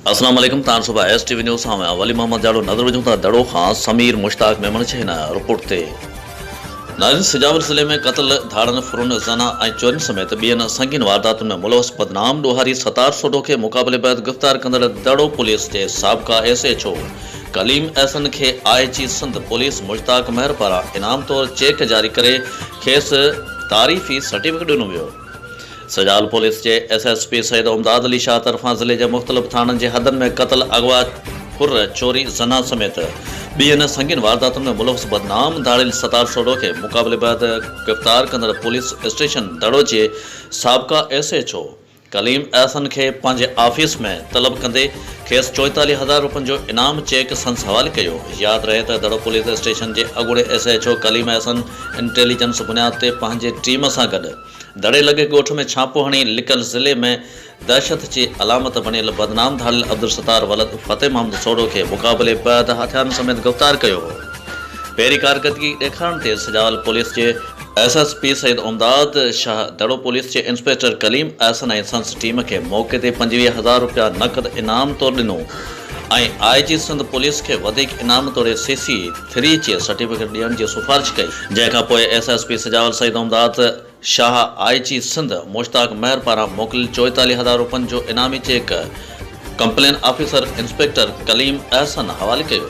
السلام عليڪم تان صبح ايس ٽي وي نيوز سان آهيان ولي محمد جاڙو نظر وجهون ٿا دڙو کان سمير مشتاق ميمڻ جي هن رپورٽ تي نارين سجاول ضلعي ۾ قتل ڌاڙن ڦرن زنا ۽ چورين سميت ٻين سنگين وارداتن ۾ ملوث بدنام ڏوهاري ستار سوڍو کي مقابلي بعد گرفتار ڪندڙ دڙو پوليس جي سابقا S H O Kaleem Ahsan کي I G Sindh police Mushtaq Mahar پاران انعام طور چيڪ جاري ڪري کيس تعريفي سرٽيفڪيٽ ڏنو ويو. سجال پوليس جي S S P Syed Imdad Ali Shah طرفان ضلعي جي مختلف ٿاڻن جي حدن ۾ قتل، اغوا، ڦر، چوري، زنا سميت ٻين سنگين وارداتن ۾ ملوث بدنام ڌاڙيل ستار سوڍو کي مقابلي بعد گرفتار ڪندڙ پوليس اسٽيشن دڙو جي سابقا S H O Kaleem Ahsan کي پنهنجي آفيس ۾ طلب ڪندي کيس چوئيتاليهه هزار روپين جو انعام چيڪ سندس حوالي ڪيو. ياد رهي ته دڙو پوليس اسٽيشن جي اڳوڻي S H O Kaleem Ahsan intelligence بنياد تي پنهنجي ٽيم سان گڏ دڙي لڳي ڳوٺ ۾ ڇاپو هڻي لڪل ضلعي ۾ دهشت جي علامت بڻيل بدنام ڌاڙيل عبدالستار ولد فتح محمد سوڍو کي مقابلي بعد هٿيارن سميت گرفتار ڪيو هو. پهرين ڪارڪردگي ڏيکارڻ تي سجاول پوليس جي S S P Syed Imdad Shah Daro police جي انسپيڪٽر ڪليم احسن ۽ سندس ٽيم کي موقعي تي پنجويهه هزار رپيا نقد انعام طور ڏنو ۽ آء جي سنڌ پوليس کي وڌيڪ انعام توڙي سي سي ٿري جي سرٽيفڪيٽ ڏيڻ جي سفارش ڪئي جنهن کان پوء S S P Sujawal Syed Imdad Shah I G Sindh Mushtaq Mahar پاران موڪليل چوئيتاليهه هزار رپين جو انعامي cheque complaint officer inspector Kaleem Ahsan حوالي ڪيو.